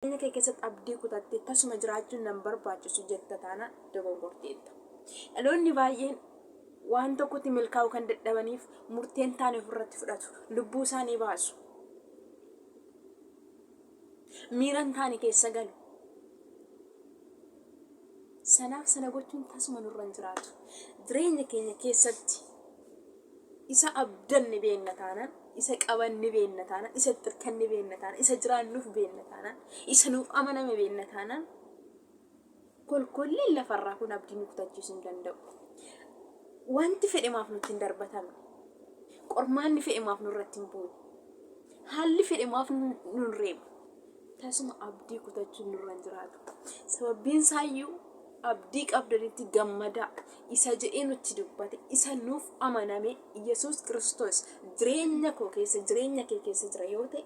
Jireenya kee keessatti abdii kutattee tasuma jiraachuun nan barbaachisu jetta taanaan dogongorteetta. Dhaloonni baay'een waan tokkotti milkaa'uu kan dadhabaniif murteen taane ofirratti fudhatu. Lubbuu isaanii baasu. Miira hin taane keessa galu. Sanaaf sana gochuun tasuma nurra hin jiraatu. Jireenya keenya keessatti Isa abdan ni beenna taanaan, isa qaban ni beenna taanaan, isa itti irkan ni beenna taanaan, isa jiraannuf beenna taanaan, isa nuuf amaname beenna taanaan, kolkolleen lafa irraa kun abdii nu kutachiisu hin danda'u. Wanti fedhe maaf nutti hin darbatamne? Qormaanni fedhe maaf nurratti hin buune? Haalli fedhe maaf nun reeba? Tasuma abdii kutachuun nurra hin jiraatu. Sababbiin isaayyuu abdii qabdanitti gammadaa. Isa jedhee nutti dubbate, isa nuuf amaname Yesuus Kiristoos jireenya koo keessa, jireenya kee keessa jira yoo ta'e,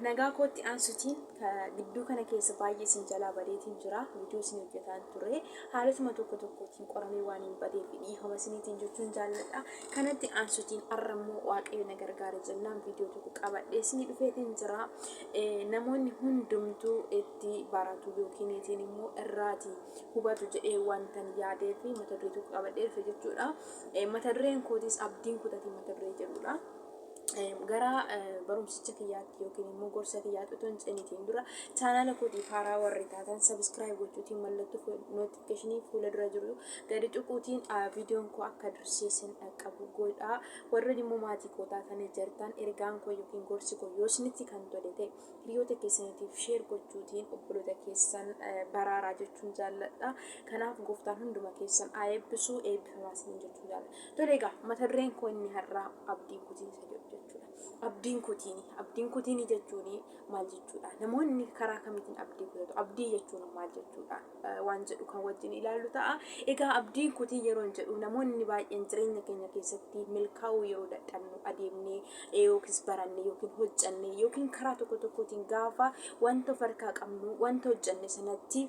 nagaa kootti aansutiin gidduu kana keessa baay'ee isin jalaa badeetiin jira viidiyoo isin hojjetaan ture haalotuma tokko tokkootiin qoramee waan hin badeef dhiifama isiniitiin jechuun jaalladha kanatti aansutiin har'a immoo waaqayyo na gargaara jennaan viidiyoo tokko qabadhee isinii dhufeetiin jira namoonni hundumtuu ti baratu yookiin itiin immoo irraa ti hubatu jedhee wantan yaadee fi mata duree tokko qabadhee dhufe jechuu dha. Mata dureen kootis abdiin kutatii mata duree jedhu dha. Gara barumsicha kiyyaatti yookiin immoo gorsa kiyyaatti otoo hin ceenitiin dura chaanaala kootiif haaraa warri taatan sabiskiraayib gochuutiin mallattoo notifikashinii fuula dura jiru gadi tuquutiin viidiyoon koo akka dursee sin dhaqqabu godhaa. Warri immoo maatii koo taatanii jirtan ergaan koo yookiin gorsi koo yoo isinitti kan tole ta'e Hiriyoota keessaniitiif share gochuutiin obboloota keessan baraaraa jechuun jaalladha. Kanaaf gooftaan hunduma keessan haa eebbisu eebbifamaa isiniin jechuun jaalladha. Tole egaa mata dureen koo inni har'aa abdii kutiinsa jedhu jechuudha. Abdiin kutiini abdiin kutiini jechuun maal jechuudha? Namoonni karaa kamiitiin abdii kutatu? Abdii jechuun maal jechuudha? Waan jedhu kan wajjin ilaallu ta'a. Egaa abdiin kutii yeroo hin jedhu namoonni baay'een jireenya keenya keessatti milkaa'uu yeroo dadhabnu adeemnee yookiis barannee yookiin hojjannee yookiin karaa tokko tokkootiin gaafa wanta of harkaa qabnu wanta hojjanne sanatti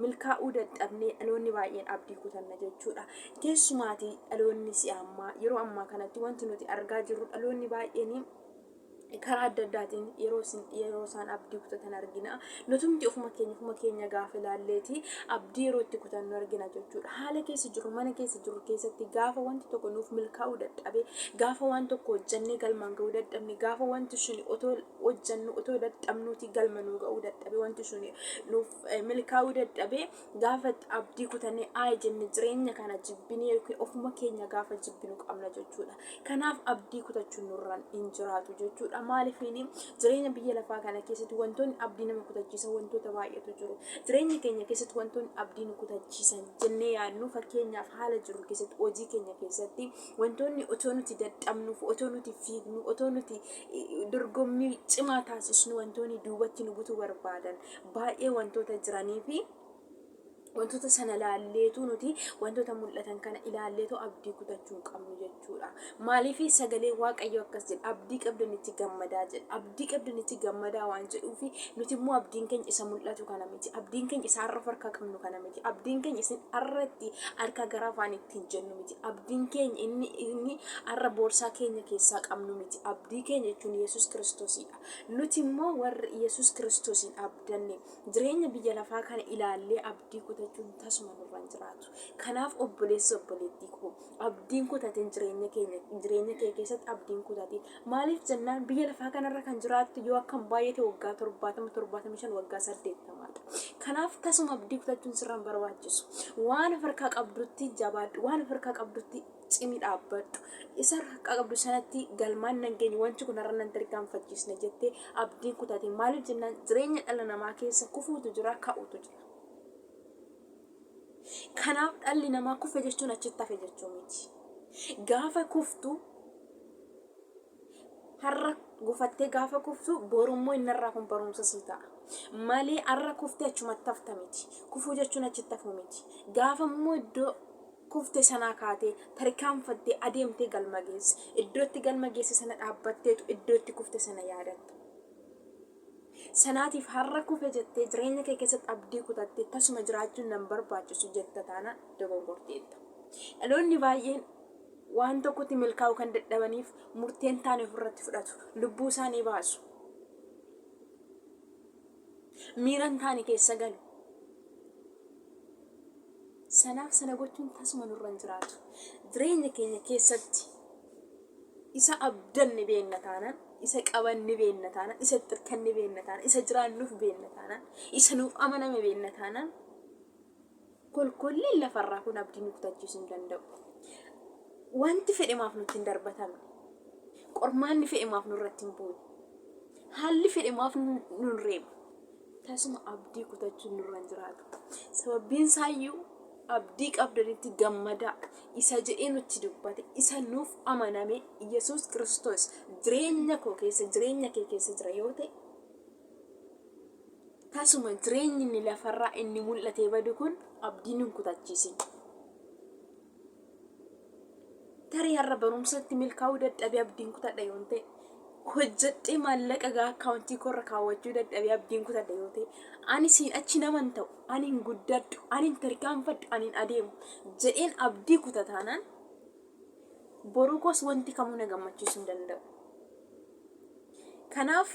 milkaa'uu dadhabnee dhaloonni baay'een abdii kutanna jechuudha. Keessumaatii dhaloonni si'a ammaa yeroo ammaa kanatti wanti nuti argaa jirru dhaloonni baay'een karaa adda addaatiin yeroo isaan abdii kutatan argina. Nutumti ofuma keenya ofuma keenya gaafa ilaalleeti abdii yeroo itti kutannu argina jechuudha. Haala keessa jirru mana keessa jirru keessatti gaafa wanti tokko nuuf milkaa'uu dadhabe gaafa waan tokko hojjannee galmaan ga'uu dadhabne gaafa wanti suni otoo hojjannu otoo dadhabnuuti galma nuu ga'uu dadhabe wanti suni nuuf eh, milkaa'uu dadhabe Gaafa itti abdii kutannee ayi jenne jireenya kana jibbinee yookiin ofuma keenya gaafa jibbinu qabna jechuudha. Kanaaf abdii kutachuun nurraan hin jiraatu jechuudha. Maalifiin jireenya biyya lafaa kana keessatti wantoonni abdii nama kutachiisan wantoota baay'eetu jiru. Jireenya keenya keessatti wantoonni abdii nu kutachiisan jennee yaadnu fakkeenyaaf haala jiru keessatti hojii keenya keessatti wantoonni otoo nuti dadhabnuuf otoo nuti fiignu otoo nuti eh, dorgommii cimaa taasisnu wantoonni duubatti nu butuu barbaadan baay'ee wantoota jiranii fi wantoota sana laalleetu nuti wantoota mul'atan kana ilaalleetu abdii kutachuu hin qabnu jechuudha. Maaliif sagalee waaqayyo akkas jedha abdii qabdanitti gammadaa jedha abdii qabdanitti gammadaa waan jedhuuf nuti immoo abdiin keenya isa mul'atu kana miti abdiin keenya isa har'a of harkaa qabnu kana miti abdiin keenya isin har'atti harka gara afaan ittiin jennu miti abdiin keenya inni inni har'a boorsaa keenya keessaa qabnu miti abdii keenya jechuun yesus kiristoosiidha. Nuti immoo warri Yesus Kiristosiin abdanne, jireenya biyya lafaa kana ilaallee abdii kutachuun tasuma nurra hin jiraatu. Kanaaf obboleessa obboleettii koo, abdiin kutatin jireenya keenya, jireenya kee keessatti abdii hin kutatin. Maaliif jennaan biyya lafaa kanarra kan jiraattu yoo akka hin baay'ate waggaa 70, 75, waggaa 80 dha. Kanaaf tasuma abdii kutachuun sirra hin barbaachisu. Waan of harkaa qabdutti jabaadhu, waan of harkaa qabdutti cimi dhaabbadhu. Isa harkaa qabdu sanatti galmaan nan geenye wanti kun har'a nan tarkaanfachiisna jettee abdiin kutate. Maaliif jennaan jireenya dhala namaa keessa kufuutu jira ka'utu jira. Kanaaf dhalli namaa kufe jechuun achitti hafe jechuu miti. Gaafa kuftu Har'a gufattee gaafa kuftu borummoo inni irraa kun barumsa sii ta'a. Malee har'a kuftee achumatti hafta miti. Kufuu jechuun achitti hafuu miti. Gaafa immoo iddoo kufte sanaa kaatee tarkaanfattee adeemtee galma geesse. Iddootti galma geesse sana dhaabbatteetu iddootti kufte sana yaadatta. Sanaatiif har'a kufe jettee jireenya kee keessatti abdii kutattee tasuma jiraachuun nan barbaachisu jetta taana dogongorteetta. Dhaloonni baay'een Waan tokkotti milkaa'uu kan dadhabaniif murtee hin taane ofirratti fudhatu. Lubbuu isaanii baasu. Miira hin taane keessa galu. Sanaaf sana gochuun tasuma nurra hin jiraatu. Jireenya keenya keessatti isa abdanne beenna taanaan, isa qabanne beenna taanaan, isa itti hirkanne beenna taanaan, isa jiraannuuf beenna taanaan, isa nuuf amaname beenna taanaan Kolkolleen lafarraa kun abdii nu kutachiisuu hin danda'u. Wanti fedhe maaf nutti hin darbatamne? Qormaanni fedhe maaf nurratti hin buune? Haalli fedhe maaf nu hin reebne? Tasuma abdii kutachuun nurra hin jiraatu. Sababbiin isaayyuu abdii qabdanitti gammadaa isa jedhee nutti dubbate isa nuuf amaname Yesuus Kiristoos jireenya koo keessa jireenya kee keessa jira yoo ta'e Tasuma jireenyi inni lafarraa inni mul'atee badu kun abdiin hin kutachiisin. Tarii har'a barumsatti milkaa'uu dadhabee abdiin kutadha yoon ta'e hojjedhee maallaqa gaa akkaawuntii koorra kaawwachuu dadhabee abdiin kutadha yoo ta'e ani siin achi naman ta'u ani hin guddadhu ani hin tarkaanfadhu ani hin adeemu jedheen abdii kuta taanaan boruu koos wanti kamuu na gammachiisuu hin danda'u. Kanaaf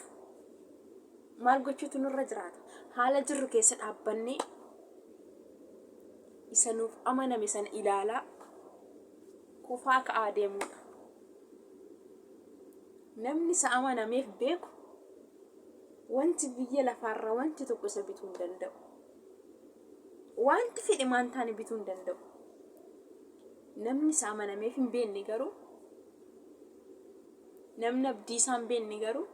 Maal gochuutu nurra jiraata? Haala jirru keessa dhaabbannee isa nuuf amaname sana ilaalaa kufaa ka'aa deemuudha. Namni isa amanameef beeku wanti biyya lafaarraa wanti tokko isa bituu hin danda'u. Wanti fedhe maan taane bituu hin danda'u. Namni isa amanameef hin beekne garuu namni abdii isaa hin beekne garuu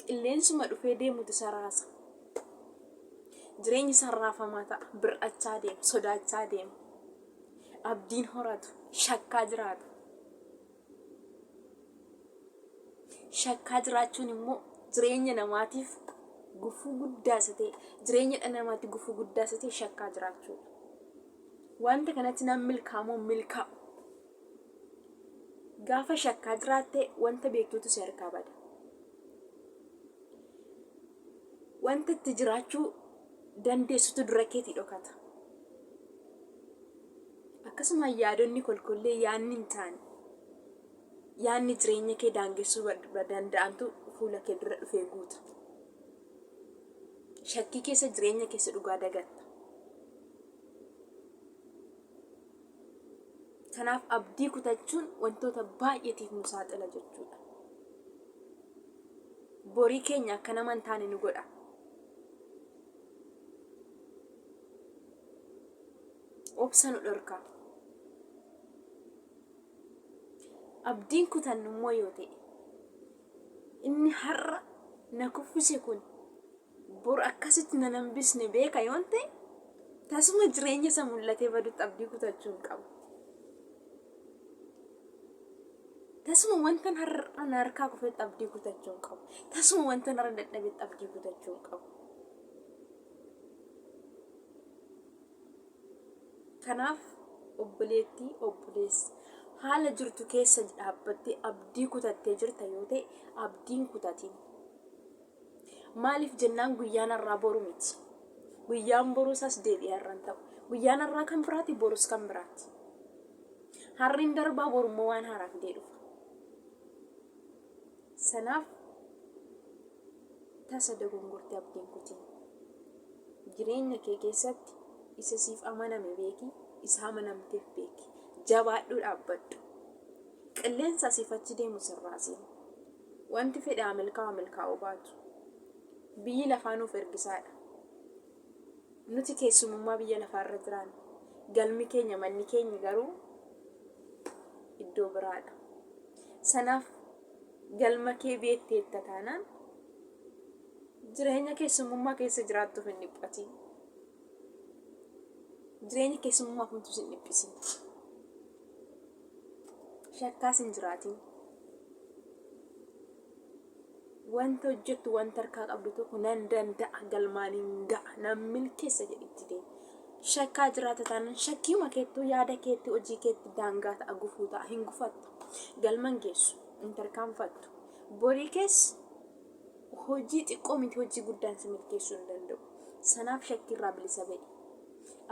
qilleensuma dhufee deemutu isa raasa. Jireenyi isaa raafamaa ta'a, bir'achaa deema, sodaachaa deema. Abdiin horatu, shakkaa jiraata. Shakkaa jiraachuun immoo jireenya namaatiif gufuu guddaa isa ta'e, jireenya dhala namaatti gufuu guddaa isa ta'e shakkaa jiraachuudha. Wanta kanatti nan milkaamoo milkaa'u. Gaafa shakkaa jiraatte wanta beektutu si harkaa bada. Wanta itti jiraachuu dandeessutu dura keetii dhokata. Akkasuma yaadonni kolkollee yaadni hin taane yaadni jireenya kee daangessuu danda'antu fuula kee dura dhufee guuta. Shakkii keessa jireenya keessa dhugaa dagatta. Kanaaf abdii kutachuun wantoota baay'eetiif nu saaxila jechuudha. Borii keenya akka nama hin taane nu godha. Obsa nu dhorka. Abdiin kutannu immoo yoo ta'e inni har'a na kuffise kun Bor akkasitti nan hambisne beeka yoon ta'e, tasuma jireenya isa mul'atee badutti abdii kutachuu hin qabu. Tasuma wantan har'a na harkaa kufetti abdii kutachuu hin qabu. Tasuma wantan har'a dadhabetti abdii kutachuu hin qabu. Kanaaf obboleettii, obboleessa haala jirtu keessa dhaabbattee abdii kutattee jirta yoo ta'e abdiin kutatiin. Maaliif jennaan guyyaan har'aa boru miti. Guyyaan boruus as deebi'ee har'a hin ta'u. Guyyaan har'aa kan biraati borus kan biraati. Har'i hin darbaa borummoo waan haaraa fidee dhufa. Sanaaf tasa dogongortee abdiin kutiin. Jireenya kee keessatti isa siif amaname beeki, isa amanamteef beeki. Jabaadhuu dhaabbadhu. Qilleensa asiif achi deemu sirraa seenu. Wanti fedhe haa milkaa'u haa milkaa'uu baatu, biyyi lafaa nuuf ergisaa dha. Nuti keessumummaa biyya lafaa irra jiraanna. Galmi keenya, manni keenya garuu iddoo biraa dha. Sanaaf galma kee beekteetta taanaan jireenya keessumummaa keessa jiraattuuf hin dhiphatiin. Jireenya keessumummaa kamtu sin dhiphisin. shakkaas hin jiraatin wanta hojjettu wanta harkaa qabdu tokko nan danda'a galmaan hin ga'a nan milkeessa jedhitti ta'e shakkaa jiraata taanaan shakkiuma keettuu yaada keetti hojii keetti daangaa ta'a gufuu ta'a hin gufattu galman geessu hin tarkaanfattu borii keessa hojii xiqqoo miti hojii guddaan si milkeessuu hin danda'u sanaaf shakkiirraa bilisa ba'i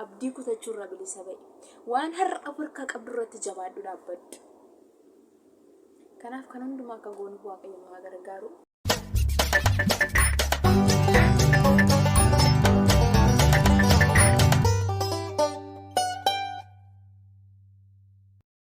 Abdii kutachuurraa bilisa ba'i. Waan har'a of harkaa qabdurratti jabaadhu dhaabbadhu. Kanaaf kan hundumaa akka goonuuf Waaqayyo nu haa gargaaru.